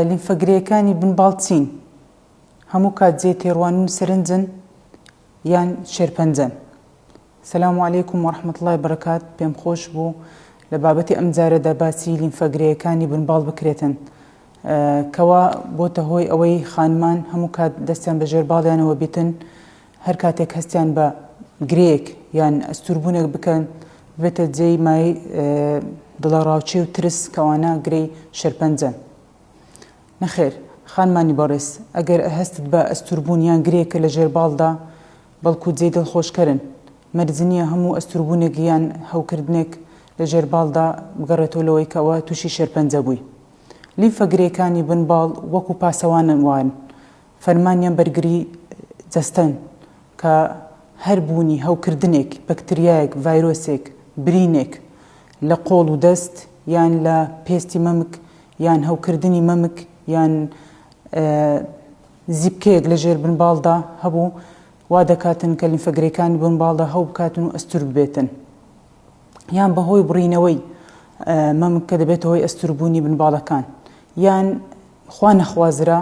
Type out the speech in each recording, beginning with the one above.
لیمفەگرێیەکانی بن باڵ چین؟ هەموو کات جێ تێڕوانین و سەرنجن یان شێرپەنجەن؟ سلام علیکم ورحمة اللە وبرکات پێم خۆش بوو لە بابەتی ئەم جارەدا باسی لیمفەگرێیەکانی بن باڵ بکرێتن کەوا بۆتە هۆی ئەوەی خانمان هەموو کات دەستیان بە ژێر باڵیانەوە بیتن هەر کاتێک هەستیان بە گرێیەک یان ئەستووربوونێک بکەن، ببێتە جێی مایەی دڵەڕاوچێ و ترس کە ئەوانە گرێی شێرپەنجەن. نەخێر، خانمانی بەڕێز، ئەگەر هەستت بە ئەستووربوون یان گرێیەکە لە ژێر باڵدا، بەڵکو جێی دڵخۆشکەرن. مەرج نییە هەموو ئەستووربوونێک یان هەوکردنێک لە ژێر باڵدا بگەڕێتەوە لەوەی کە ئەوە تووشی شێرپەنجە بووی. لیمفە گرێیەکانی بن باڵ وەکو پاسەوانن وان، فەرمانیان بەرگری جەستەن کە هەر بوونی هەوکردنێک، بەکتریایەک، ڤایرۆسێک، برینێک لە قۆڵ و دەست یان لە پێستی مەمک یان هەوکردنی مەمک یان زیپکەیەک لە ژێر بنباڵدا هەبوو وا دەکاتن کە لیمفە گرێکانی بنباڵدا هەوبکاتن و ئەستوور ببێتن. یان بەهۆی بڕینەوەی مەم کە دەبێتە هۆی ئەستوربوونی بنباڵەکان یان خوا نەخوازرا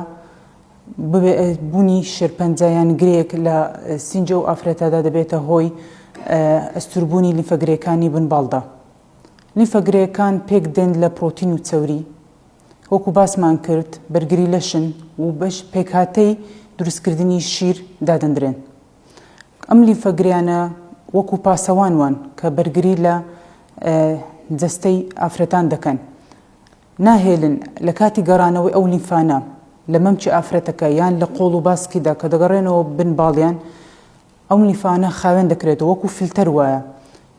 بوونی شێرپەنجە یان گرێک لە سینجە و ئافرەتەدا دەبێتە هۆی ئەستوربوونی لیفەگرێکانی بنباڵدا لیفەگرێکان پێک دێن لە پرۆتین و چەوری وەکو باسمان کرد بەرگری لەشن و بەش پێکهاتەی دروستکردنی شیر دادەندرێن ئەم لیمفە گریانە وەکو پاسەوان وان کە بەرگری لە جەستەی ئافرەتان دەکەن ناهێلن لە کاتی گەڕانەوەی ئەو لیمفانە لە مەمکی ئافرەتەکە یان لە قۆڵ و باسکیدا کە دەگەڕێنەوە بن باڵیان ئەم لیمفانە خاوێن دەکرێتەوە وەکو فلتەر وایە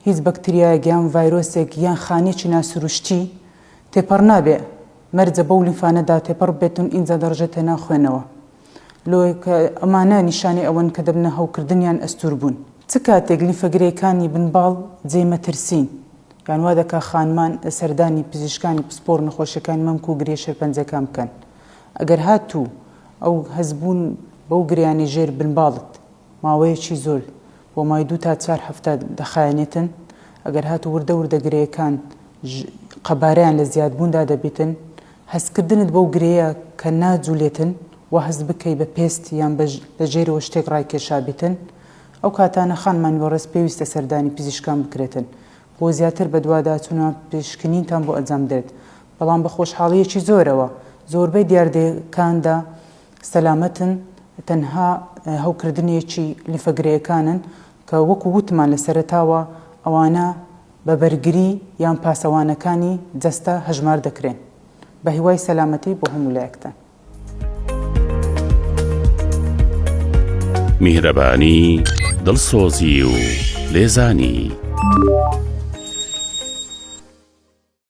هیچ بەکتریایەک یان ڤایرۆسێک یان خانێکی ناسروشتی تێپەڕ نابێ مەرجە بەو لیمفانەدا تێپەڕ بێتون ئینجا دەڕژێتە ناو خوێنەوە. لۆیە کە ئەمانە نیشانەی ئەوەن کە دەبنە هەوکردن یان ئەستووربوون. چ کاتێک لیفە گرێکانی بن باڵ جێی مەترسین یان وا دەکا خانمان لە سەردانی پزیشکانی پسپۆڕ نەخۆشیەکانی مەمک و گرێ شێرپەنجەکان بکەن ئەگەر هاتوو ئەو هەستبوون بەو گرێیانەی ژێر بن باڵت ماوەیەکی زۆر بۆ مای دوو تا چار هەفتە دەخایەنێتن ئەگەر هاتوو وردە وردە گرێیەکان قەبارەیان لە زیادبووندا دەبیتن هەستکردنت بەو گرێیە کە ناجولێتن وا هەست بکەی بە پێست یان بە لە ژێرەوە شتێک ڕایکێشابیتن ئەو کاتانە خانمان وەڕێز پێویستە سەردانی پزیشکان بکرێتن بۆ زیاتر بەدواداچونە پشکنینتان بۆ ئەجامدرێت بەڵام بە خۆشحاڵیەکی زۆرەوە زۆربەی دیاردە کاندا سەلامەتن تەنها هەوکردنێکی لیفە گرێیەکانن کە وەکو وتمان لە سەرەتاوە ئەوانە بە بەرگری یان پاسەوانەکانی جەستە هەژمار دەکرێن. بەهیوای سەلامەتی بۆ هەموو لایەکتان. میهرەبانی، دڵسۆزی و لێزانی.